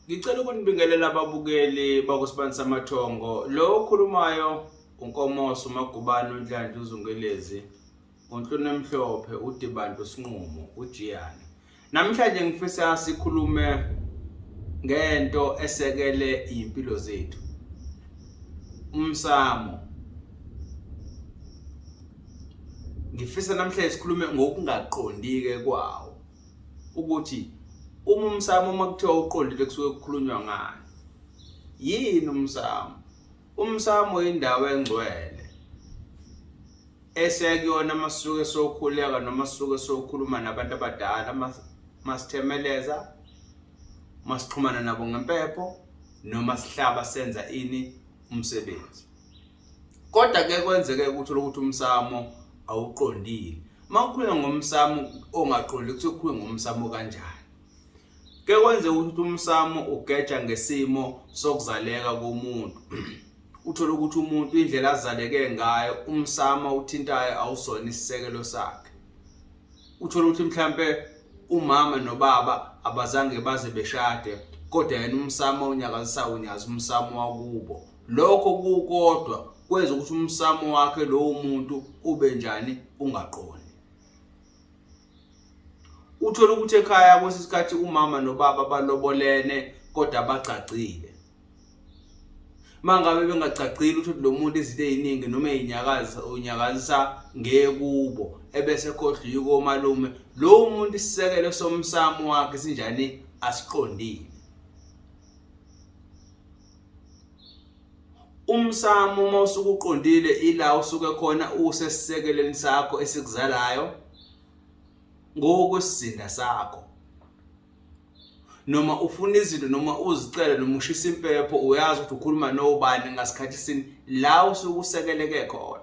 Ngicela ukunibingelela ababukeli bakusibani samathongo lo okhulumayo unkomoso umagubane unhlanhla uzungelezi unhlunu emhlophe udibantu sinqumo ujiyane namhlanje ngifisa sikhulume ngento esekele impilo zethu umsamo ngifisa namhlanje sikhulume ngokungaqondike kwawo ukuthi uma umsamo uma kuthiwa uqondile kusuke kukhulunywa ngani yini umsamo umsamo indawo engcwele esekuyona masuke sokhuleka noma suke sokhuluma nabantu abadala masithemeleza masixhumana nabo ngempepho noma sihlaba senza ini umsebenzi Kodwa ke kwenzeke ukuthi lokuthi umsamo awuqondile. Mawukhuluma ngomsamo ongaqondile ukuthi ukhuluma ngomsamo kanjani. Ke kwenze ukuthi umsamo ugeja ngesimo sokuzaleka komuntu. Uthola ukuthi umuntu indlela azaleke ngayo umsamo uthintayo awusona isisekelo sakhe. Uthola ukuthi mhlambe umama nobaba abazange baze beshade kodwa yena umsamo unyakazisa unyazi umsamo wakubo. Lokho kukodwa kwenza ukuthi umsamo wakhe lowo muntu ube njani ungaqondi. Uthola ukuthi ekhaya kwesi sikhathi umama nobaba balobolene kodwa bagcagcile. Mangabe bengagcagcile ukuthi lo muntu izinto eziningi noma ezinyakaza unyakazisa ngekubo ebese khohlwa yiko malume lo muntu isisekelo somsamo wakhe sinjani asiqondile. umsamo uma usuke uqondile ila usuke khona usesisekeleni sakho esikuzalayo ngokwesizinda sakho noma ufuna izinto noma uzicele noma ushisa impepho uyazi ukuthi ukhuluma nobani ngasikhathi sini la usuke usekeleke khona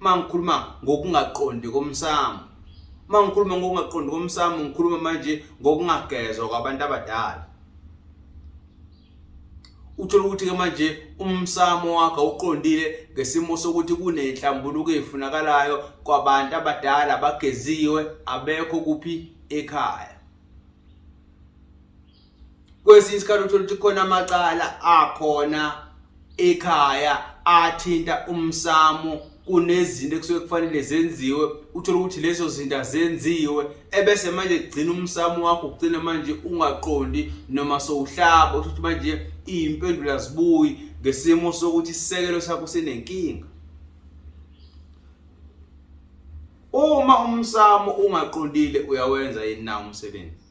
mangikhuluma ngokungaqondi komsamo mangikhuluma ngokungaqondi komsamo ngikhuluma manje ngokungagezwa kwabantu abadala uthola ukuthi ke manje umsamo wakho uqondile ngesimo sokuthi kunenhlambuluko efunakalayo kwabantu abadala abageziwe abekho kuphi ekhaya kwesinye isikhathi uthola ukuthi khona amacala akhona ekhaya athinta umsamo kunezinto ekusuke kufanele zenziwe uthole ukuthi lezo zinto azenziwe ebese manje kugcina umsamo wakho ugcina manje ungaqondi noma sowuhlaba uthi manje iyimpendulo azibuyi ngesimo sokuthi isisekelo sakho sinenkinga uma umsamo ungaqondile uyawenza yini na umsebenzi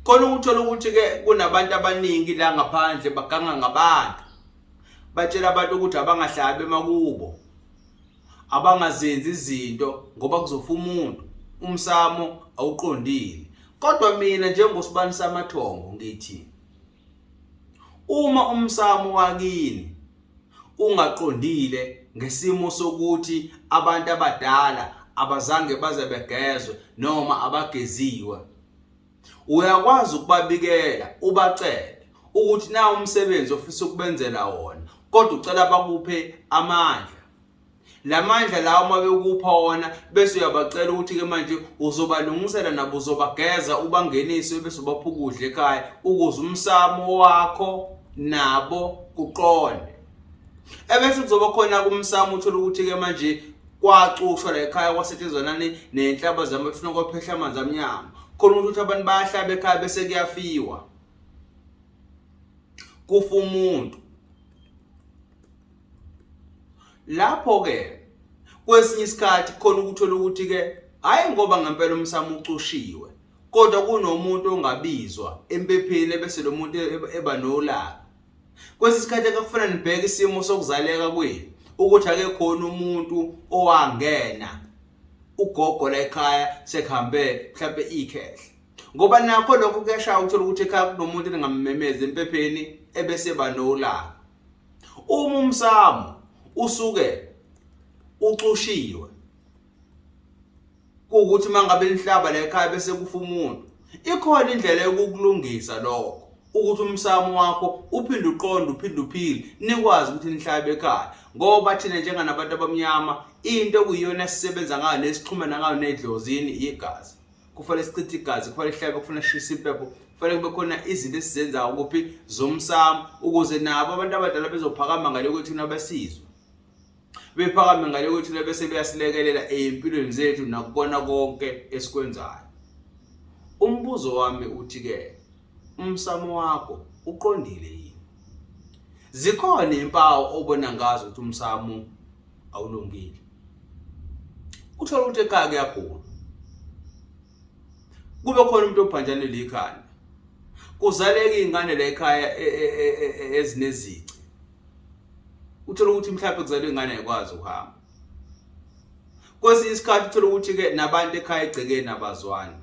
khona ukuthola ukuthi-ke kunabantu abaningi la ngaphandle baganga ngabantu batshela abantu ukuthi abangahlabi emakubo abangazenzi izinto ngoba kuzofa umuntu umsamo awuqondile kodwa mina njengosibani samathongo ngithi Uma umsamo wakini ungaqondile ngesimo sokuthi abantu abadala abazange baze begezwe noma abageziwe, uyakwazi ukubabikela ubacele ukuthi na umsebenzi ofisa ukubenzela wona kodwa ucela bakuphe amandla la mandla lawo uma bekupha wona bese uyabacela ukuthi-ke manje uzobalungisela nabo uzobageza ubangenise bese ubapha ukudla ekhaya ukuze umsamo wakho nabo kuqonde ebese kuzoba khona-ke umsamo uthole ukuthi-ke manje kwacushwa la ekhaya kwasetshenzwa nani nenhlaba zami kufuna kwaphehla amanzi amnyama khona ukuthi abantu bayahlaba ekhaya bese kuyafiwa kufa umuntu lapho ke kwesinye isikhathi khona ukuthola ukuthi ke hayi ngoba ngempela umsamo ucushiwe kodwa kunomuntu ongabizwa empepheni bese lo muntu e-, e-, eba nolaka kwesinye isikhathi akufuna nibheke isimo sokuzaleka kwenu ukuthi ake khona umuntu owangena ugogo la ekhaya sekuhambe mhlawumbe ikhehle ngoba nakho lokho kuyashaya ukuthola ukuthi ekhaya kunomuntu eningammemeza empepheni ebese banolaka uma umsamo usuke ucushiwe kuwukuthi mangabe nihlaba la ekhaya bese kufa umuntu ikhona indlela yokukulungisa lokho ukuthi umsamo wakho uphinde uqonde uphinde uphile nikwazi ukuthi nihlabe ekhaya ngoba thina njenganabantu abamnyama into okuyiyona esisebenza ngayo nesixhumana ngayo nedlozini igazi kufanele sichithe igazi kufanele sihlabe kufanele sishise impepho kufanele kube khona izinto esizenzayo kuphi zomsamo ukuze nabo abantu abadala bezophakama ngale kwethu nabasizwe bephakame ngale kwethu bese beyasilekelela ezimpilweni zethu nakukona konke esikwenzayo umbuzo wami uthi ke umsamo wakho uqondile yini zikhona impawu obona ngazo ukuthi umsamo awulungile uthola ukuthi ekhaya kuyagula kube khona umuntu obhanjanele ikhanda kuzaleke ingane la ekhaya e, e, e, ezinezici uthola ukuthi mhlawumbe kuzalwe ingane ayikwazi ukuhamba kwesinye isikhathi uthola ukuthi ke nabantu ekhaya egcekeni abazwani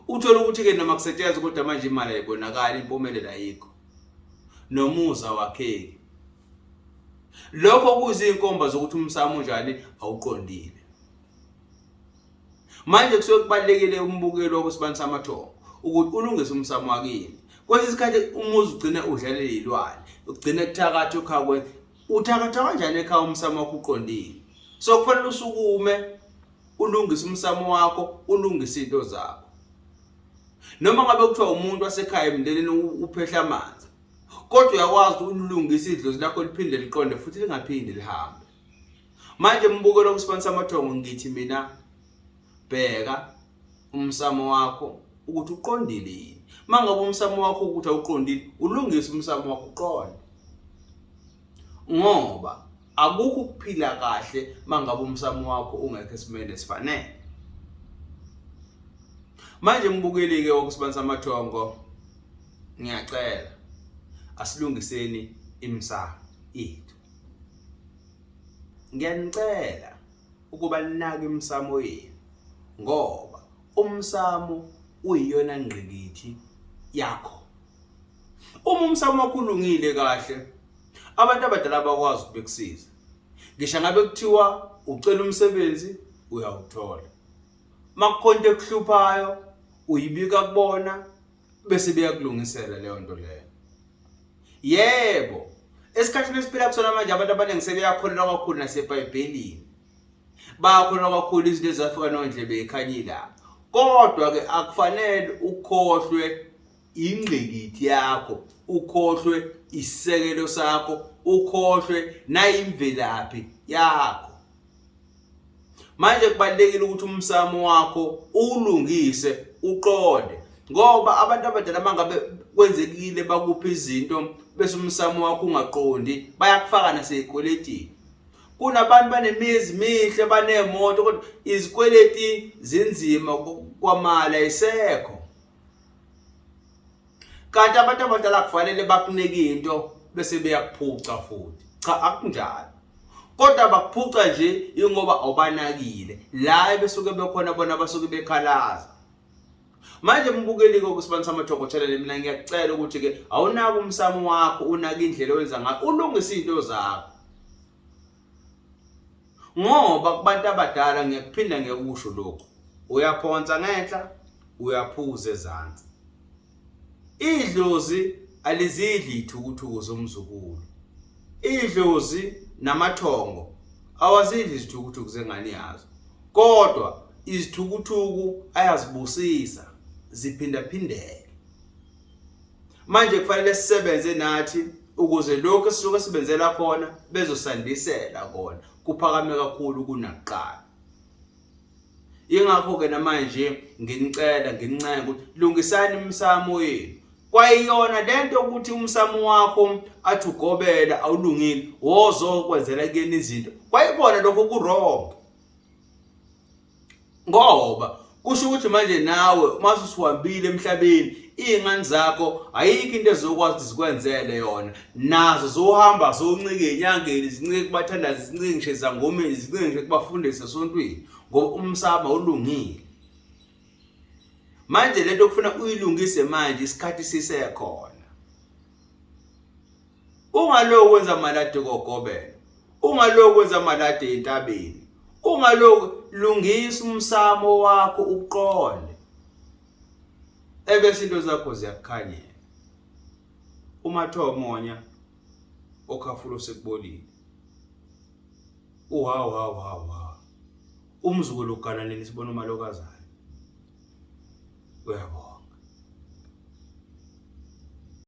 Uthola ukuthi-ke noma kusetshenzwa kodwa manje imali ayibonakali, impumelelo ayikho, nomuza wakheki. Lokho kuyizinkomba zokuthi umsamo unjani awuqondile. Manje kusuke kubalekile umbukelo wokusibani samathongo ukuthi ulungise umsamo wakini. Kwesinye isikhathi umuzi ugcine udlalele ilwane, ugcine kuthakatha ukhakwe. Uthakatha kanjani ekhaya umsamo wakho uqondile? So kufanele usukume ulungise umsamo wakho ulungise into zakho noma ngabe kuthiwa umuntu wasekhaya emndenini uphehla amanzi kodwa uyakwazi ukulungisa idlozi lakho liphinde liqonde futhi lingaphindi lihambe manje mbukelo kusibanisa amathongo ngithi mina bheka umsamo wakho ukuthi uqondile yini mangabe umsamo wakho ukuthi awuqondile ulungise umsamo wakho uqonde ngoba akukho ukuphila kahle mangabe umsamo wakho ungekho esimeni esifanele manje mbukeli ke wokusibanisa amathongo ngiyacela asilungiseni imsamo yethu ngiyanicela ukuba ninake imsamo yenu ngoba umsamo uyiyona ngqikithi yakho Uma umsamo wakho ulungile kahle, abantu abadala bakwazi ukukusiza. Ngisho ngabe kuthiwa ucela umsebenzi uyawuthola. Makukhonto ekuhluphayo uyibika kubona bese beyakulungisela leyo nto leyo. Yebo, esikhathini esiphila kusona manje abantu abaningi sebeyakholelwa kakhulu naseBhayibhelini. Bayakholelwa kakhulu izinto ezafika nondlebe ekhanyila. Kodwa ke akufanele ukhohlwe ingqikithi yakho ukhohlwe isisekelo sakho ukhohlwe nayimvelaphi yakho manje kubalekile ukuthi umsamo wakho ulungise uqonde ngoba abantu abadala mangabe kwenzekile bakupha izinto bese umsamo wakho ungaqondi bayakufaka naseyikweletini kunabantu banemizi mihle baneemoto kodwa izikweleti zinzima kwamala isekho kanti abantu abadala kufanele bakunike into bese beyakuphuca futhi cha akunjalo kodwa bakuphuca nje ingoba awubanakile la besuke bekhona bona basuke bekhalaza manje mbukelike ukusibani samathoko channel mina ngiyacela ukuthi ke awunaki umsamo wakho unaka indlela owenza ngayo ulungisa izinto zakho ngoba kubantu abadala ngiyakuphinda ngiyakusho lokhu uyaphonsa ngenhla uyaphuza ezansi idlozi alizidli ithukuthuku zomzukulu idlozi namathongo awazidli izithukuthuku zengane yazo kodwa izithukuthuku ayazibusisa ziphindaphindeke manje kufanele sisebenze nathi ukuze lokho esisuke sibenzela khona bezosandisela kona kuphakame kakhulu kunakuqala ingakho ke namanje nginicela ngincenga ukuthi lungisani imsamo yenu kwayiyona lento ukuthi umsamo wakho athi ugobela awulungile wozokwenzela kuyena izinto kwayikona lokho kurongo ngoba kusho ukuthi manje nawe uma usuhambile emhlabeni iy'ngane zakho ayikho into ezokwazi ukuthi zikwenzele yona nazo zohamba zoncike enyangeni zincike kubathandazi zincike ngisho ezangomeni zincike ngisho kubafundisi esontweni ngoba umsaba ulungile manje lento kufuna uyilungise manje isikhathi sisekhona ungaloku wenza amalade kogobela ungaloku wenza amalade entabeni ungaloku lungisa umsamo wakho uqonde ebese into zakho ziyakukhanyela uma tho monya okhafulo sekubolile uhawu hawu hawu hawu umzukulu ugananeni sibona umalokazana uyabona